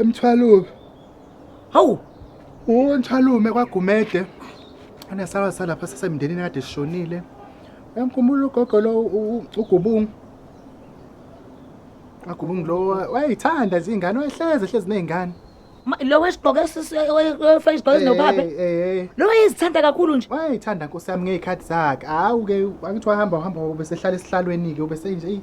emthwalume hawu unthalume kwagumede onesala salapha sasemndenini kade sishonile uyamkhumbula ugogo lo ugubungu agubungu lo wayeyithanda nje ingane wayehlezi ehlezi nezingane lo wesigqoko esifeshigqoko esinophape lo wayezithanda kakhulu nje wayeyithanda nkosi yami ngey'khathi zakhe hawu-ke angithi wahamba uhamba ubesehlala esihlalweni-ke ubesenje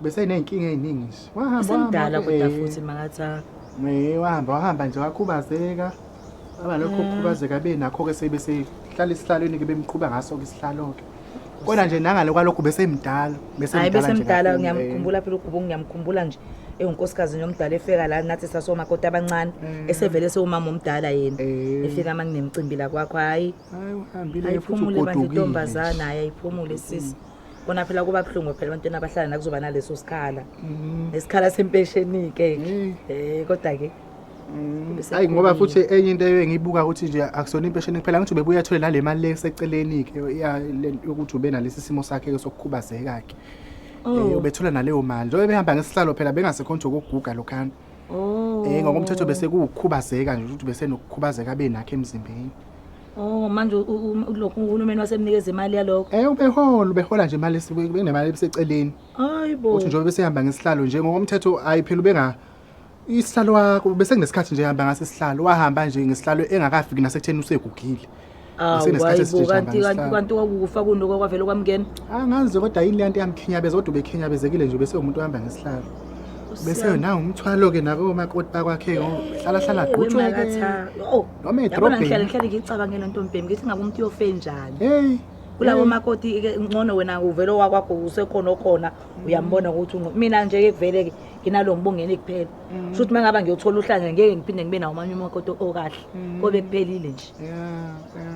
beseney'nkinga ey'ningi nje wahamba Usemdala kodwa wahamba, futhi makathaka. eh, eh, wahamba wahamba nje wakhubazeka aba lokho kukhubazeka benakho-ke sebe sehlala esihlalweni-ke bemqhuba ngaso-ke isihlalo-ke kodwa nje nangale kwalokhu besemdala Hayi bese nje mdala kakhulu, eh. ngiyamkhumbula phela uGubo ngiyamkhumbula nje ewunkosikazi nomdala efika la nathi sasomakoti abancane Eh. esevele sewumama omdala yena Eh. efika uma nginemcimbi la kwakho hayi Hayi, uhambile-ke futhi ayiphumule bandla ugodukile nje. intombazana hayi ayiphumule sisi kona phela kuba buhlungu phela abantwana abahlala nakuzoba naleso sikhala mhm. nesikhala sempesheni-ke um eh, kodwa-ke mm. hayi ngoba futhi enye into eyo engiyibuka ukuthi nje akusona impesheni kuphela ngithi ubebuya athole nale mali le eseceleni-ke yokuthi ube nalesi simo sakhe-ke sokukhubazeka-ke um oh. eh, ubethula naleyo mali njengoba behamba ngesihlalo phela bengasekho nje okokuguga lokhana um ngokomthetho bese kuwukhubazeka nje ukuthi besenokukhubazeka abe nakho emzimbeni Oh manje lokho uhulumeni wasemnikeza imali yalokho. Eh ubehola ubehola nje imali esuke kunemali ebiseceleni. Hayibo. Uthi njengoba besehamba ngesihlalo nje ngokomthetho ayi phela ubenga isihlalo wakho bese kunesikhathi nje hamba ngase sihlalo wahamba nje ngesihlalo engakafiki nasekutheni usegugile. Awayibo kanti kanti kanti kwakufa kunoko kwavele kwamngena. Angazi ah, kodwa yini le nto yamkhinyabeza kodwa ubekhinyabezekile nje bese umuntu ohamba ngesihlalo. Bese nawo umthwalo ke nabo makoti bakwakhe ngohlala hlala gqutshwe ke. Oh. noma yabona ngihlale edrobheni ngihlale ngicabangela ntombhemi ngithi ngabe umuntu uyofe njani heyi kulabo heyi. makoti ke ngcono wena uvele owakwakho usekhona okhona uyambona ukuthi ungcono mina nje ke kuvele ke nginalo ngibongeni kuphela Mm. kusho ukuthi uma ngaba ngiyothola uhlanya ngeke ngiphinde ngibe nawo amanye umakoti okahle Mm. kobe kuphelile nje Yeah, yeah.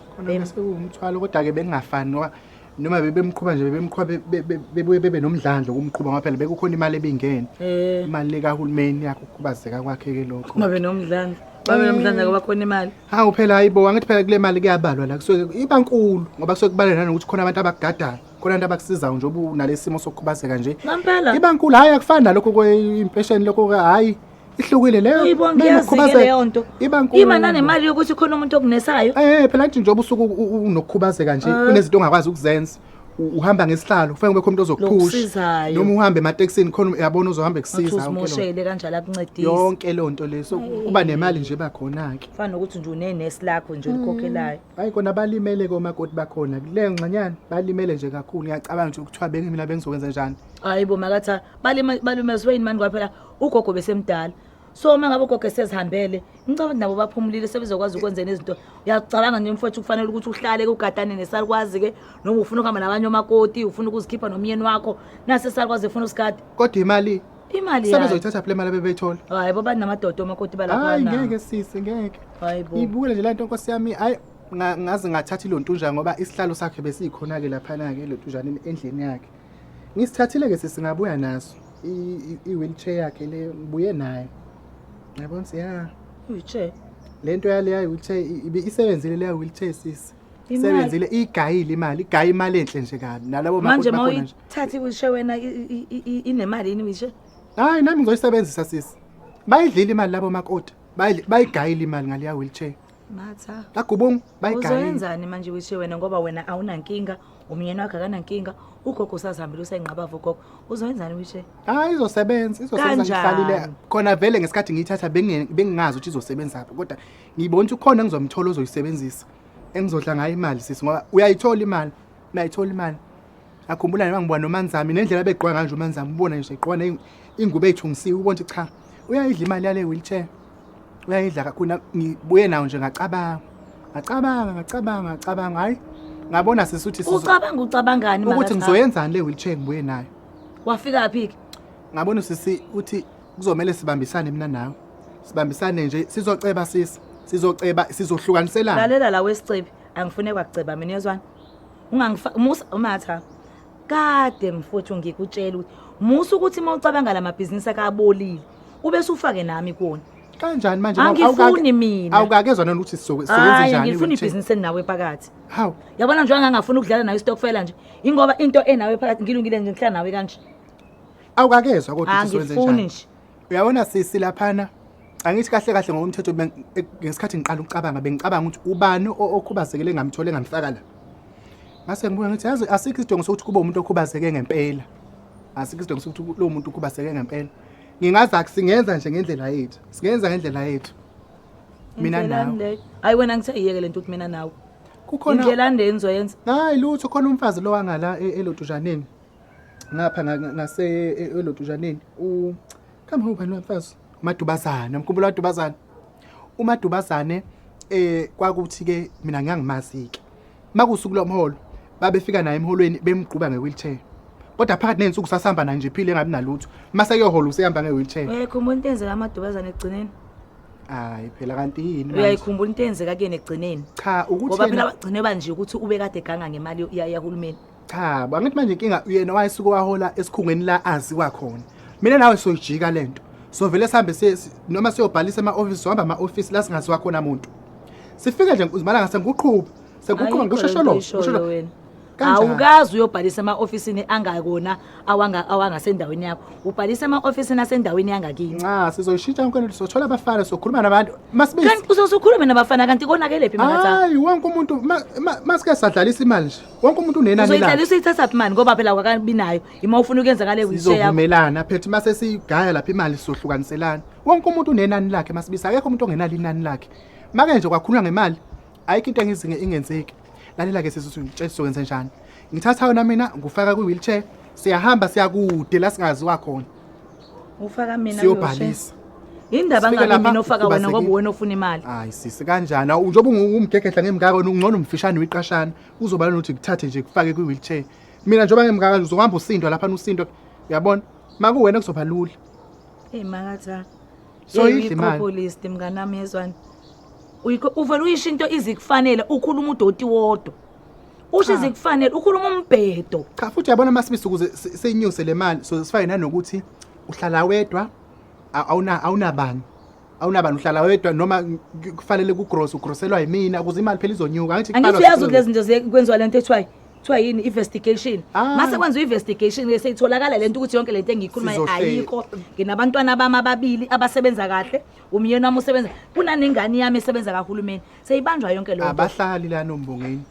khona Bem. ke sekuwumthwalo kodwa-ke bekungafani ngoba noma bebemqhuba nje bebemqhuba bebuye bebe nomdlandlo kumqhuba ngoba phela bekukhona imali ebingene eh. imali likahulumeni yakho ukukhubazeka kwakhe-ke lokho babe nomdlandlo babe nomdlandlo ngoba khona imali hawu phela hayibo angithi phela kule mali kuyabalwa la kusuke iba nkulu ngoba kusuke kubalwa nanokuthi khona abantu abakugadayo khona abantu abakusizayo njengoba unalesimo sokukhubazeka nje iba nkulu hhayi akufani nalokho impesheni lokho hhayi ihlukile leyo uyibonga iyazike leyo nto ima nanemali yokuthi khona umuntu okunesayo eh, eh phela nje njengoba usuku unokukhubazeka nje ah. kunezinto ongakwazi ukuzenza uhamba ngesihlalo kufanele kube khona umuntu ozokuphusha noma uhambe ematekisini khona uyabona uzohamba kusiza uzomoshele kanjalo akuncedise yonke leyo nto leso kuba nemali nje bakhona ke fana ukuthi nje unenesi lakho nje ulikhokhelayo mm. hayi kona balimele komakoti bakhona le ngxanyana balimele nje kakhulu ngiyacabanga nje ukuthiwa bengi mina bengizokwenza njani hayi bo makatha balimezwe yini mani kwaphela ugogo besemdala so uma ngabe ugogo esezihambele ngicabanga ukuthi nabo baphumulile sebezokwazi ukwenzela izinto uyacabanga nje mfowethu kufanele ukuthi uhlale kugadane nesalukwazi ke noma ufuna ukuhamba nabanye omakoti ufuna ukuzikhipha nomyeni wakho nase salukwazi efuna usigada kodwa imali imali yayo sebezoyithatha phela imali abebeyithola hayi bo banamadoda omakoti balapha hayi na ngeke sisi ngeke hayi bo ibukele nje lento nkosi yami hayi nga- ngaze ngathatha ilontunja ngoba isihlalo sakhe besiyikhona-ke laphana-ke lontunjana endlini yakhe ngisithathile-ke sisi ngabuya naso i-wheelchair yakhe le ngibuye nayo yabona siya wheelchair le nto yaleya wheelchair isebenzile leya wheelchair sisi sebenzile igayile imali igaye imali enhle nje kabi nalabo manje uma uyithatha iwishe wena inemali yini wishe hayi nami ngizoyisebenzisa sisi bayidlile imali labo makoti bayigayile imali ngaleya wheelchair Matha. Lagubung bayigane. Uzoyenzani manje wishe wena ngoba wena awunankinga, umyeni wakhe akanankinga, ugogo usazihambile usayinqabava ugogo. Uzoyenzani wishe? Hayi izosebenza, izosebenza ngihlalile. Khona vele ngesikhathi ngiyithatha bengingazi ukuthi izosebenza phi kodwa ngibona ukuthi ukhona engizomthola ozoyisebenzisa. Engizodla ngayo imali sisi ngoba uyayithola imali. Uyayithola imali. Akhumbula noma ngibona noManzami nendlela begqwa kanje uManzami ubona nje egqwa ingubo eyithungisiwe ubona ukuthi cha uyayidla imali yale wheelchair. uyayidla kakhulu ngibuye nawo nje ngacabanga ngacabanga ngacabanga ngacabanga hayi ngabona sisi uthi ucabanga ucabangani ukuthi ngizoyenzani le wheelchair ngibuye nayo wafika phi ke ngabona sisi uthi kuzomela sibambisane mina nawe sibambisane nje sizoceba sisi sizoceba sizohlukaniselana lalela la wesicebi angifune kwakuceba mina yezwana ungangifaka umatha kade mfowethu ngikutshela ukuthi musa ukuthi uma ucabanga la mabhizinisi akabolile ube sufake nami kuwona kanjani manje angifuni mina awukakezwa nani ukuthi sisebenze njani angifuni ibhizinisi enawe phakathi hawu yabona nje angangafuni ukudlala nayo istokfela nje ingoba into enawe phakathi ngilungile nje ngihlala nawe kanje awukakezwa kodwa ukuthi sisebenze njani angifuni nje uyabona sisi laphana angithi kahle kahle ngokomthetho ben- e- ngesikhathi ngiqala ukucabanga bengicabanga ukuthi ubani o- okhubazekile engamthole engamfaka la ngase ngibuye ngithi yazi asikho isidingo sokuthi kube umuntu okhubazeke ngempela asikho isidingo sokuthi ku- lowo muntu ukhubazeke ngempela ngingaza singenza nje ngendlela yethu singenza ngendlela yethu mina Indlela nawe le- hayi wena ngithe yiyeke le nto ukuthi mina nawe kukhona indlela nde engizoyenza hayi lutho khona umfazi lo wangala e- elodujaneni ngapha ngase elodujaneni u kama ubani wamfazi umadubazana mkhumbula wadubazana umadubazane eh kwakuthi ke mina ngiyangimazi ke makusuku lomholo babefika naye emholweni bemgquba ngewheelchair kodwa phakathi nensuku sasihamba naye nje phile engabi nalutho mase kuyohola usehamba ngewheelchair ekho umuntu enzeka amadubazana egcineni hayi phela kanti yini uyayikhumbula into eyenzeka kuyena egcineni cha ukuthi ngoba phela bagcine banje ukuthi ube kade ganga ngemali yahulumeni cha bo, angithi manje inkinga uyena wayesuke wahola esikhungweni la aziwa khona mina nawe soyijika le nto sovele sihambe siye- si- noma siyobhalisa ema-ofisi sohamba ama-ofisi la singaziwa khona muntu sifike nje uzimalanga sengiqhuba sengiqhuba Ayikho ngisho lento sholo oyishoyo ngisho sholo. wena. Kanjani? awukazi uyobhalisa ema-ofisini angakona awanga- awangasendaweni yakho ubhalisa ema-ofisini asendaweni yangakini nca sizoyishintsha yonke lento sothola abafana sokhuluma nabantu masibisi kanti uzosukhulume nabafana kanti konakelephi makathanga hayi wonke umuntu ma- ma- masike sadlalisa imali nje wonke umuntu unenani lakhe uzoyidlala usuyithatha phi mani ngoba phela wakabi nayo ima ufuna ukuyenza ngale wheelchair yakho sizovumelana phethe uma sesigaya lapha imali sizohlukaniselana wonke umuntu unenani lakhe masibisa akekho umuntu ongenalo inani lakhe make nje kwakhulwa ngemali ayikho into engizinge ingenzeki lalela ke sisi ngitshela sizokwenza njani ngithatha yona mina ngifaka kwi wheelchair siyahamba siyakude la singaziwa khona Ufaka mina siyobhalisa indaba ngabe mina ofaka wena ngoba wena ofuna imali hayi sisi kanjani njengoba ungumgegedla ngemngaka wena ungcono umfishane uyiqashana uzoba nokuthi kuthathe nje kufake kwi-wheelchair mina njengoba ngemngaka nje uzohamba usindwa lapha usindwa uyabona makuwena kuzoba lula eyi makatha soyidla imali populist mnganami yezwani uvele uyisho into izikufanele ukhuluma udoti wodwa usho izikufanele ukhuluma umbhedo cha futhi yabona masibisi ukuze si- sinyuse le mali so sifake nanokuthi uhlala wedwa a- awuna awunabani awunabani uhlala wedwa noma k- kufanele kugross ugrosselwa yimina ukuze imali phela izonyuka angithi angithi kuqalwa uyazi ukuthi lezi zinto ziye- kwenziwa lento ekuthiwa kuthiwa yini investigation Ah. mase kwenziwa investigation ke seyitholakala lento ukuthi yonke lento engiyikhulumayo Sizohleka. ayikho nginabantwana bami ababili abasebenza kahle umyeni wami usebenza kunanengane yami esebenza kahulumeni seyibanjwa yonke lo abahlali lana umbongeni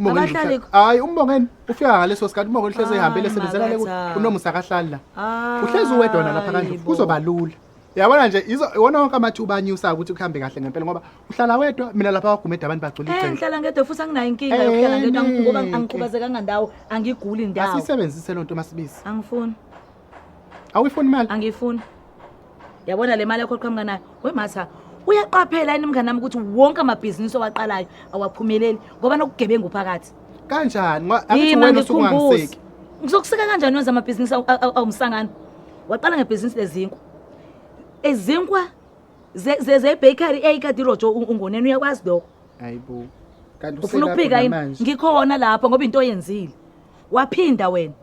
Abahlali- hayi umbongeni ufika ngaleso sikhathi umbongeni uhlezi Ah, ehambile esebenzela le makatha. kunomusa akahlali la Ah, uhlezi uwedwa wona lapha kanje yebo. kuzoba lula yabona nje izo- iwona wonke amathuba anyusayo ukuthi kuhambe kahle ngempela ngoba uhlala wedwa mina lapha wagumede abantu bagcwele Eh, igceke ngihlala ngedwa futhi anginayo inkinga yokuhlala ngedwa Eh, ngoba neke. angikhubazekanga ndawo angiguli ndawo asiyisebenzise loo nto masibisi angifuni awuyifuni imali angiyifuni yabona le mali yakho qhamuka nayo wematha uyaqaphela yini mngane nami ukuthi wonke amabhizinisi owaqalayo awaphumeleli ngoba nokugebengu phakathi kanjani Ngoba angithi Yima, wena usuke ngikhumbuze. ungangiseki ngizokuseka kanjani wenza amabhizinisi awu- awu- awumsangano waqala ngebhizinisi lezinkwa izinkwa ze- ze- zebakery eyikade irojo u- ungoneni uyakwazi lokho hayibo kanti ufuna uselapho ukuphika yini namanje. ngikhona lapho ngoba into oyenzile waphinda wena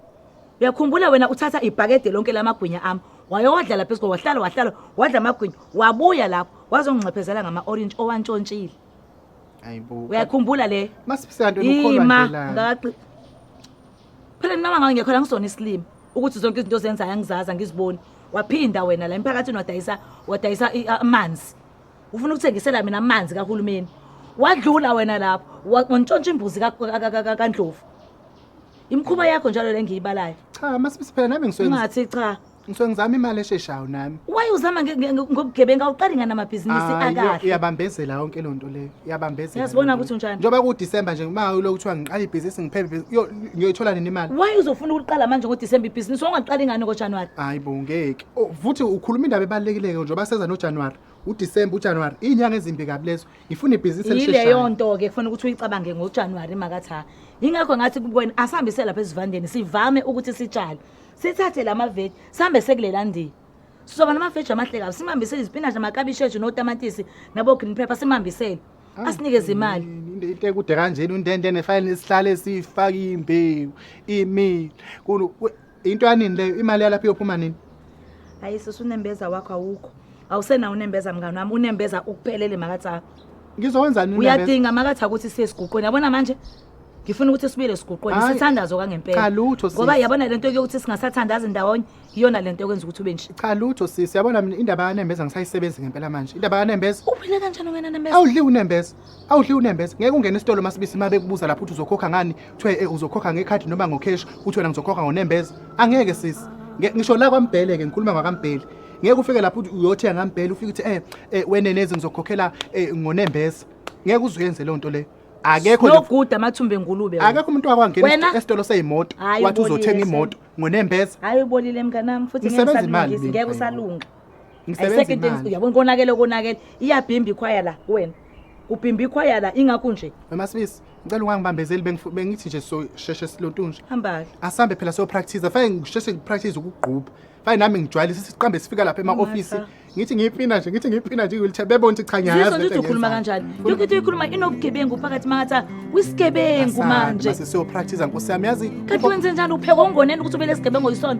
uyakhumbula wena uthatha ibhakede lonke lamagwinya ami wayowadlala phezu ko wahlala wahlala wadla amagwinya wabuya lapho wazongixephezela ngama-orange owantshontshile ayibo uyakhumbula le masibisanto ima ngaqi phela mina mangawe ngekho la ngisona isilima ukuthi zonke izinto ozenzayo angizazi angiziboni waphinda wena la emphakathini wadayisa wadayisa amanzi ufuna ukuthengisela mina amanzi kahulumeni wadlula wena lapho wantshontsha imbuzi kandlovu Imkhuba yakho njalo lengiyibalayo. Cha, masibisi phela nami ngiswenza. Ungathi cha. Ngisuke ngizama imali esheshayo nami. Why uzama nge- nge- ngobugebengu awuqali ngani amabhizinisi Hayi, Ah, iya- akahle? Iyabambezela yonke lento leyo. Iyabambezela. Uyazibona lento. ukuthi unjani? Njengoba ku December nje uma ulo kuthiwa ngiqala ibhizinisi ngiphephe ibhizinisi, yo- ngiyoyithola nini imali? Why uzofuna ukuliqala manje ngoDecember ibhizinisi ongaqali ngani ngoJanuary? Hayi bo ngeke. Oh, Futhi ukhuluma indaba ebalekileke njengoba seza no January. U December, u January, izinyanga ezimbi kabi lezo. ngifuna ibhizinisi elisheshayo yileyo nto ke kufanele ukuthi uyicabange ngoJanuary makatha yingakho ngathi kuwena asihambise lapha esivandeni sivame ukuthi sitshale sithathe lama veg sihambe sekulela ndiya sizoba nama veg amahle kabi simambisele izipinashi amakabishi ethu notamatisi nabo green pepper simambisele ah, asinikeze imali into into ekude kanjena untente nefayile nesihlale sifaka imbewu imile Into yanini leyo imali yalapha iyophuma nini? Hayi sisi unembeza wakho awukho. Awusena unembeza mngani wami unembeza ukuphelele makaTha. Ngizowenzani unembeza? Uyadinga makaTha ukuthi siye siguqweni. Yabona manje? Ngifuna ukuthi sibuyele siguqweni Hayi. sithandazo kangempela. Cha lutho sisi. Ngoba yabona lento yokuthi singasathandazi ndawonye iyona lento ekwenza ukuthi ube nje. Cha lutho sisi yabona mina indaba yanembeza ngisayisebenzi ngempela manje. Indaba yanembeza Uphile kanjani wena nembeza? awudli unembeza. Awudli unembeza ngeke ungene esitolo masibisi uma bekubuza lapho uthi uzokhokha ngani kuthiwe eh, uzokhokha ngekhadi noma ngokheshi uthi wena ngizokhokha ngonembeza angeke sisi Nge- ngisho la kwambhele ke ngikhuluma ngakambheli ngeke ufike lapho uthi uyothenga ngambhele ufike uthi eh eh, wenenezi ngizokhokhela eh, ngonembeza ngeke uzuyenze leyo nto leyo akekho nje noguda amathumbe ngulube wena. akekho umuntu wakwangena Wena? esi- esitolo seyimoto Hhayi, wathi ubolile uzothenga imoto ngonembeza hayi ubolile mnganami futhi ngeke Nisebenza imali usalungise mina. ngeke usalunga uyabona konakele konakele iyabhimba ikhwaya la kuwena kubhimba ikhwaya la ingakho nje wemasibisi ngicela ungangibambezeli bengithi nje sosheshe silontunje hambake asihambe phela sopractice fane ngisheshe ngipractice ukugqubha fane nami ngijwayelise siqambe sifika lapha ema-ofisi ngithi ngiyipina nje ngithi ngiyipina nje wheelchair bebona ukuthi cha ngiyayazi ukuthi ukhuluma kanjani yonke into uyikhuluma inobugebengu phakathi mangathi uyisigebengu manje siyopractice nkosi yami yazi kanti wenze njani upheka ongoneni ukuthi ubele sigebengu yisona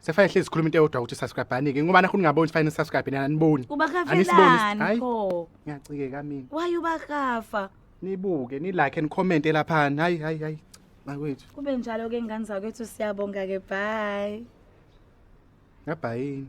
Sefaya hlezi sikhuluma into eyodwa ukuthi subscribe anike ngoba nakho ningaboni sifayini subscribe nina aniboni. Angisiboni. ubakafelani Hayi. pho Ngiyacikeka mina. waye ubakafa Nibuke ni like and comment elaphana. Hayi hayi hayi. Makwethu. kube njalo ke ngane zakwethu siyabonga ke bye Ngabhayini.